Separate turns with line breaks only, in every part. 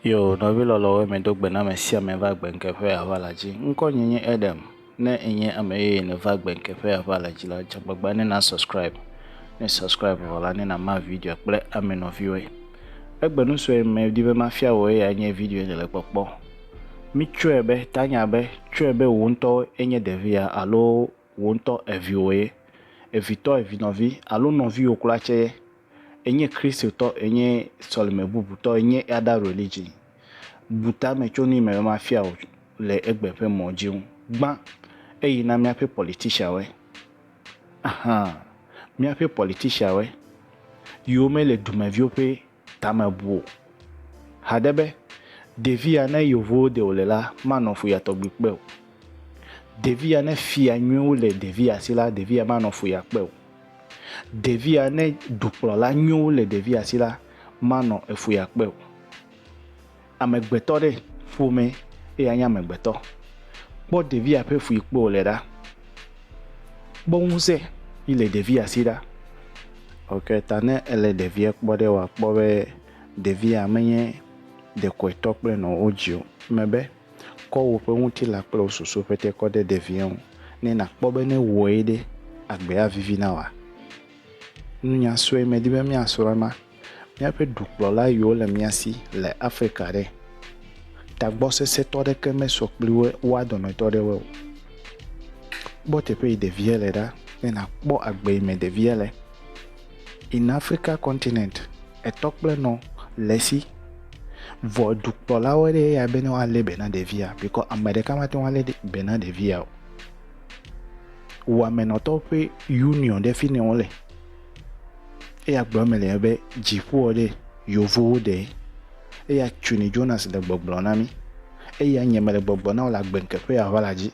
Yo, nɔvi lɔlɔwo me do gbe na ame sia ame va gbenkeƒe aʋa la dzi. Ŋkɔ nye nye Edem. Ne enye ame yeye nèva gbenkeƒe aʋa la dzi la, dze agbagba ne na subscribe. Ne subscribe vɔ la, ne nama video kple ame nɔviwoe. Egbe nu sue medi be mafia wòe ya nye video yi nèle kpɔkpɔ. Mitsɔe be tanya be tsɔe be wò ŋutɔ enye ɖevia alo wò ŋutɔ eviwò ye, evitɔ evinɔvi alo nɔviwò kura tsɛ ye. Enye Kristotɔ, enye sɔlime bubutɔ, enye eada religion. Bu tame tso nu yi me be mafia wò le egbe ƒe mɔ dzi ŋu. Gbã eyi na míaƒe politicianwoe. Ahan, míaƒe politicianwoe, yiwo mele dumeviwo ƒe. tame bu o. Hade be, Ɖevi ya ne yewo ɖe wòle la, manɔ fu ya tɔgbi kpe o. Ɖevi ya ne fia nyuiwo le ɖevi ya si la, ɖevi ya manɔ fu ya kpe o. Ɖevi ya ne dukplɔla nyuiwo le ɖevi ya si la, manɔ efu ya kpe o. Amegbetɔ ɖe ƒome eye anye amegbetɔ. Kpɔ ɖevia ƒe ƒu yi kpe wòle ɖa. Kpɔ ŋusẽ yi le ɖevia si ɖa. Eyi ta ne èle ɖevia kpɔ ɖe, wòakpɔ be ɖevia menye ɖekɔetɔ kple nɔ wodzi o. Eme be, kɔ woƒe ŋutilã kple wò susu ƒete kɔ ɖe ɖevia ŋu ne nàkpɔ be ne ewɔe ɖe, agbea avivi na wòa? Nunya sue medi be míasrɔ̃ ema. Míaƒe dukplɔla yiwo le mía si le Afrika ɖe? Tagbɔ sesẽtɔ aɖeke mesɔ kpli woa dometɔ aɖewoe o. Kpɔ teƒe yi ɖevia le ɖa be nàkpɔ agbe yi me ɖevia le. In Africa continent, etɔ kple nɔ le esi. Vɔ dukplɔlawo ɖe eya be ne woalé be na ɖevia bikɔ ame ɖeka mate ŋu alé be na ɖevia o. Wò amenɔtɔwo ƒe union ɖe fi ne wole. Eya gblɔ eme le be dziƒoa ɖe yevowo ɖe. Eya tuni Jonas le gbɔgblɔ na mi. Eya nye mele gbɔgblɔ na wo le agbe ŋkeƒe ya ʋala dzi.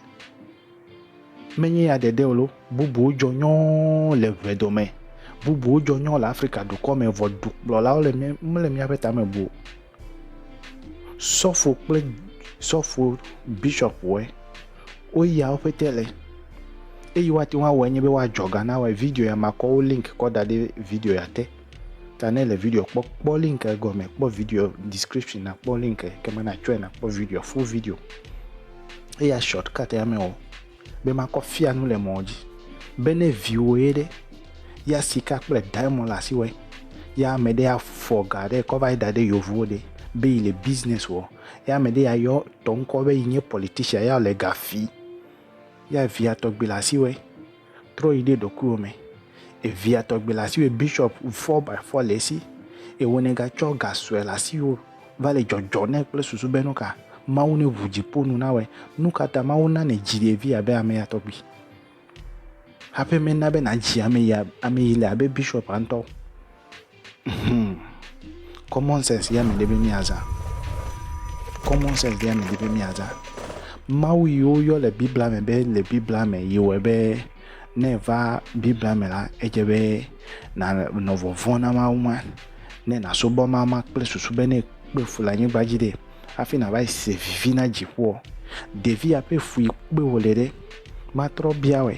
Menye ya ɖeɖe o lo, bubuwo dzɔ nyɔɔ le ʋe dome. Bubuwo dzɔ nyɔɔ le Afrika dukɔ me vɔ dukplɔlawo le mele miaƒe tame bu o. Sɔfo kple sɔfo bishɔpuwo woyia wo ƒete le eyi woate ŋu awɔe nye be woadzɔ ga na wɔe. Video ya makɔ wo link kɔ da ɖe video ya te. Ta ne le video kpɔ kpɔ link gɔme kpɔ video description nakpɔ link ekema natsɔe nakpɔ video full video. Eya shortcut ya mewɔ o. be makɔ fia nu le mɔ dzi, be ne viwòe ɖe, ya sika kple diamond le asiwɔe, ya ame ɖe afɔ ga ɖe kɔ va yi da ɖe yeovuwo ɖe be yi le business wɔ, ya ame ɖe ya yɔ tɔ ŋkɔ be yi nye politician ya le ga fi, ya via tɔgbi le asiwɔe, trɔ yi ɖe ɖokuiwò me, evia tɔgbi le asiwɔe, bishop four by four le esi, ewɔ ne ga tsɔ ga sɔe le asiwò. va le dzɔdzɔ nɛ kple susu be nuka Mawu ne ʋu dziƒo nu na wɔe. Nuka ta Mawu na ne dzi ɖevi abe ame ya tɔgbi. Haƒe me na be na dzi ame ya ame yi le abe bishop antɔ. Hmm. Common sense ya me de be mi aza. Common sense ya me de be mi aza. Mawu yi wo yɔ le Biblia me be le Biblia me yi wɔ be ne va Biblia me la edze be na nɔ vɔvɔn na Mawu ma. ne nasubɔ Mawu ma kple susu be ne ekpe fu le anyigba dzi ɖe hafi nava yi se vivi na dziƒoa? Ɖevia ƒe fui kpe wòle ɖe? Matrɔ bia wɔe.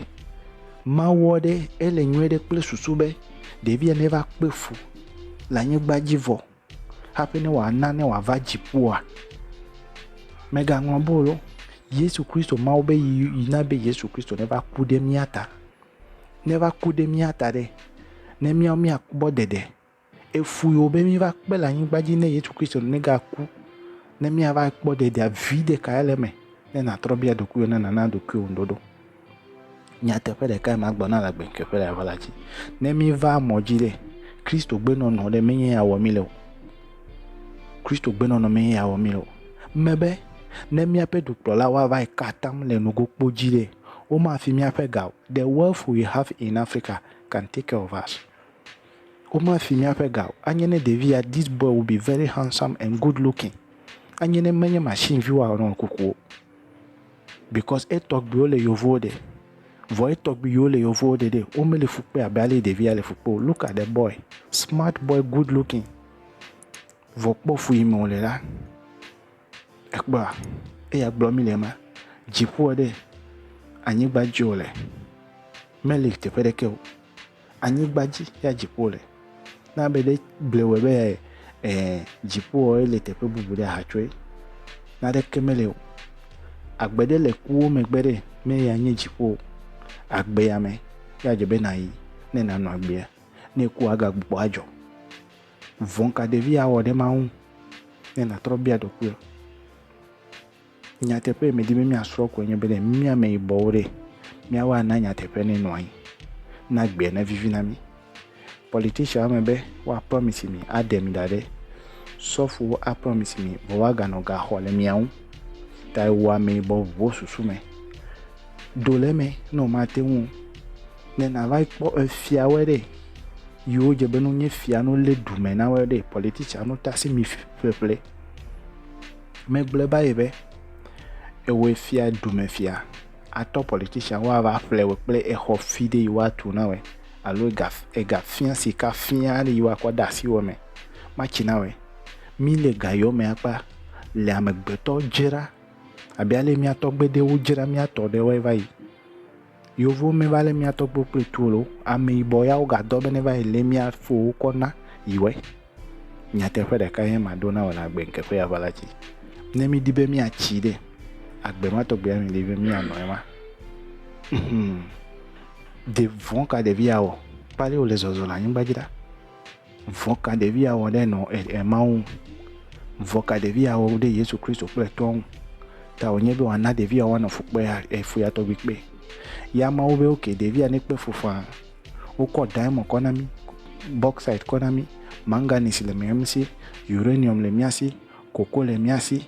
Mawɔ ɖe ele nyuie ɖe kple susu be ɖevia neva kpe fu le anyigba dzi vɔ hafi ne wòana ne wòava dziƒoa? Mègaŋlɔ bolo. Yesu Kristo, Mawu be yi na be Yesu Kristo neva ku ɖe mía ta neva ku ɖe mía ta ɖe, ne míawo míakpɔ ɖeɖe. Efui wò be míva kpe le anyigba dzi ne Yesu Kristo negaku ne míava kpɔ ɖeɖea? Viɖe kae le eme ne nàtrɔ bia ɖokuiwò ne nàna ɖokuiwò ŋuɖoɖo? Nyateƒe ɖekae magblɔ na le agbenɔeƒe le aʋala dzi. Ne míva mɔ dzi ɖe, Kristo gbenɔnɔ ɖe menye ya wɔ mí le o. Kristo gbenɔnɔ menye ya wɔ mí le o. Mebe ne míaƒe dukplɔlawo ava ka atam le nugokpo dzi ɖe, Womafi míaƒe ga o. The wealth we have in Africa can take care of us. Womafi míaƒe ga o. Anye ne ɖevi ya, this boy will be very handsome and good looking. Anye ne menye machine vi woa run kuku o. Because etɔgbiwo le yovowo ɖe. Vɔ etɔgbi yiwo le yovowo ɖe ɖe, womeli fu kpe abe ale ɖevi ya le fu kpe o. Look at the boy. Smart boy, good looking. Vɔ kpɔ fu yi me wòle la. Ekpɔa, eya gblɔ mi le ma, dziƒoa ɖe, anyigba dzi wòle, meli teƒe ɖeke o. Anyigba dzi ya dziƒo wòle. Ne ame ɖe gblɔe wɔe be ɛɛ dziƒoa ele teƒe bubu ɖe ahatsɔe, naneke meli o. Agbe ɖe le kuwo megbe ɖe, ne eya nye dziƒo o. Agbea me, ya dze be nàyi ne nànɔ agbea. Ne èkua, agagbugbɔ adzɔ. Vɔ̃ ka ɖevi ya wɔ ɖe Mawu ŋu? Ne nàtrɔ bia ɖokuiwò, nyateƒe yi medi be míasrɔ̃ koe nye be ne mía ameyibɔwo ɖe, míawo ana nyateƒe ne nɔ anyi, na gbea nevivi na mí. Politician ame be woapromise mi aɖe mi ɖa ɖe, sɔfowo apromise mi vɔ woaganɔ ga xɔ le mia ŋu tae wò ameyibɔ ʋuwo susu me. do le eme ne womate ŋu o. Ne nàva yi kpɔ efiawoe ɖe, yiwo dze be ne wonye fia ne wolé du me na woe ɖe, polititsiawo ta asi mi ƒeƒle. Megblɔe va yi be, ewɔe fia dumefia atɔ polititsiawo woava ƒle wò kple exɔ fi ɖe yi woatu na wòe alo ega egafia sikafia aɖe yi woakɔ ade asi wò me matsi na wòe. Míle ga yewo me akpa le amegbetɔ dzra Abe ale mía tɔgbe ɖe wodzra mía tɔ ɖe woe va yi. Yevuwo me va le mía tɔgbe kple tu lo. Ame yibɔ ya woga dɔ be ne va yi le mía fowo kɔ na yi wɛ. Nyateƒe ɖeka ye ma ɖo na wɔ le agbe nke ƒe ya va la ci. Ne mi di be mía ci ɖe agbe ma tɔgbe ya mi di be mía nɔ ema. Mhm. De vɔn ka ɖevi ya wɔ. Kpali wo le zɔzɔ le anyigba dzi ɖa. Vɔ̃ ka ɖevi awɔ ɖe nɔ e Mawu ŋu? Vɔ̃ ka ɖevi awɔ ɖe Yesu Kristo kple etɔa ŋu? Ta wònye be wòana ɖevia woanɔ fukpea e fuya tɔgbi kpe. Ya Mawu be oke, ɖevia nekpe fu faa. Wokɔ diamond kɔ na mí, bauxite kɔ na mí, manganese le mía si, uranium le mía si, coco le mía si,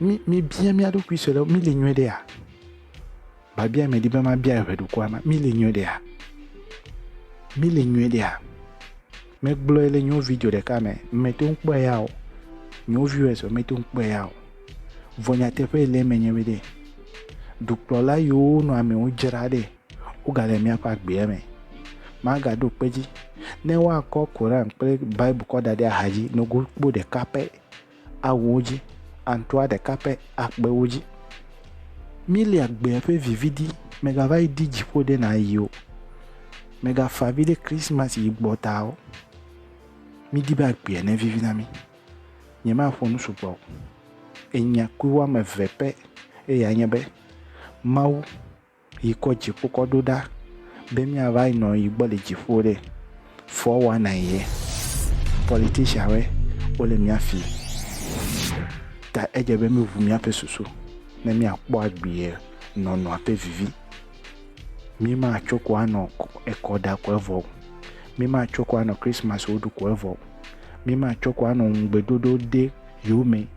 Mi mibia mia ɖokui sue ɖe mi le nyuie ɖea? Babia medi be mabia eʋe ɖokua ma mi le nyuie ɖea? Mi le nyuie ɖea? Megblɔe le nyo video ɖeka me meto ŋu kpɔe ya o. Nyo viewers o meto ŋu kpɔe ya o. Vɔ nyateƒe le eme nye be ɖe dukplɔla yiwo nɔ amewo dzra ɖe wogale miaƒe agbea me. Magaɖo kpe dzi ne woakɔ Koran kple Bible kɔ da ɖe axa dzi nogo kpo ɖeka pɛ awuwo dzi, aŋtua ɖeka ƒe akpewo dzi. Míli agbea ƒe vivi di, mègava yi di dziƒo ɖe nàyi o. Mègafa avi ɖe Krisimasi yi gbɔ ta o. Mídi be agbea nevivi na mí. Nyemaƒo nu sugbɔ o. Enya kui woame eve pɛ eyae nye be, Mawu Yi kɔ dziƒo kɔ ɖo ɖa be mia va yi nɔ yi gbɔ le dziƒo ɖe, fɔ wa na yi ye. Politician we wo le mia fi ta edze be mi ʋu mia ƒe susu ne mia kpɔ agbie nɔ nɔa ƒe vivi. Mi ma tso ko anɔ ekɔ ɖa ko evɔ o. Mi ma tso ko anɔ Christmas wo ɖu ko evɔ o. Mi ma tso ko anɔ ŋugbe ɖoɖo de yewo me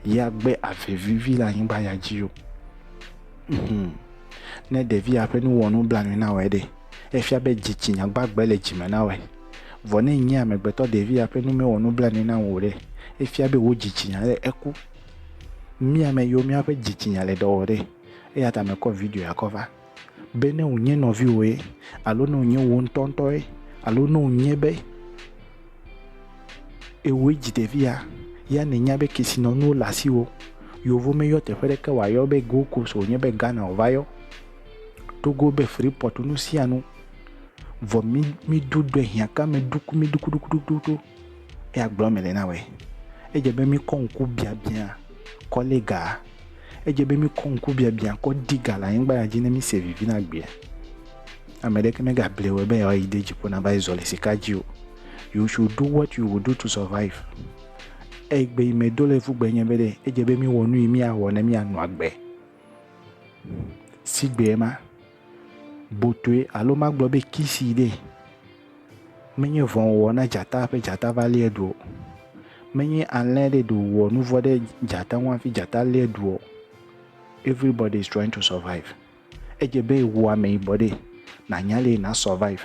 ya gbe ave vivi le anyigba ya dzi o. Hum. Ne ɖevia ƒe nuwɔnu bla nui na wɔe ɖe, efia be dzitsinya gbagbe le dzi me na wɔe. Vɔ ne nye amegbetɔ ɖevia ƒe nu mewɔ nublanui na ŋu o ɖe, efia be wò dzitsinya le eku. Mía me yiwo míaƒe dzitsinya le ɖe wɔ ɖe, eya ta mekɔ video ya kɔ va. Be ne wònye nɔviwòe, alo ne wònye wò ŋutɔŋutɔe, alo ne wònye be. Ewoe dzi ɖevia, ya nènya be kesinɔnuwo le asiwò. Yovo meyɔ teƒe ɖeke wòayɔ be Gold Coast o, wònye be Ghana wòva yɔ. Togo be Freeport nusianu. Vɔ mi, mi do dɔɛ hiãka me ɖuku mi ɖukuɖukuɖukuɖuku. Eya gblɔ mele na wòe. Edze be mi kɔ ŋku biabiã kɔlega. Edze be míkɔ ŋkubiabiã kɔ di ga le anyigba ya dzi ne míse vivi na gbea. Ame ɖeke megable wɔ be yewoayi ɖe dziƒo na va yi zɔ le sika dzi o. You should do what you will do to survive. Eyi gbe yi medo le fu gbe nye be ɖe edze be míwɔ nu yi míawɔ ne míanɔ agbe. Si gbe ma. botue alo magblɔ be kisii ɖe, menye vɔ̃ wòwɔ na dzata hafi dzata va liɛ ɖu o. Menye alẽ ɖe ɖe wòwɔ nu vɔ̃ ɖe dzata ŋu hafi dzata liɛ ɖu o. Everybody is trying to survive. Edze be wò ameyibɔ ɖe, nànya le na survive.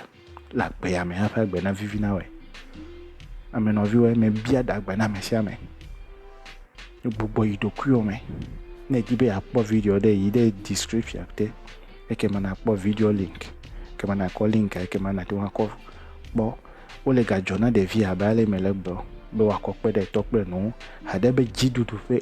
le agbe ya me hafi agbe navivi na wɔe. Ame nɔviwoe mebia ɖe agbe na ame sia ame. Egbugbɔ yi ɖokuiwo me. Ne edi be yeakpɔ video ɖe yi ɖe description te. Ekema nakpɔ video link. Ekema nakɔ link ekema nate ŋu akɔ kpɔ. Wole ga dzɔ na ɖevi abe ale mele gblɔ be woakɔ kpe ɖe etɔ kple enɔwo. Haɖe be dziɖuɖu ƒe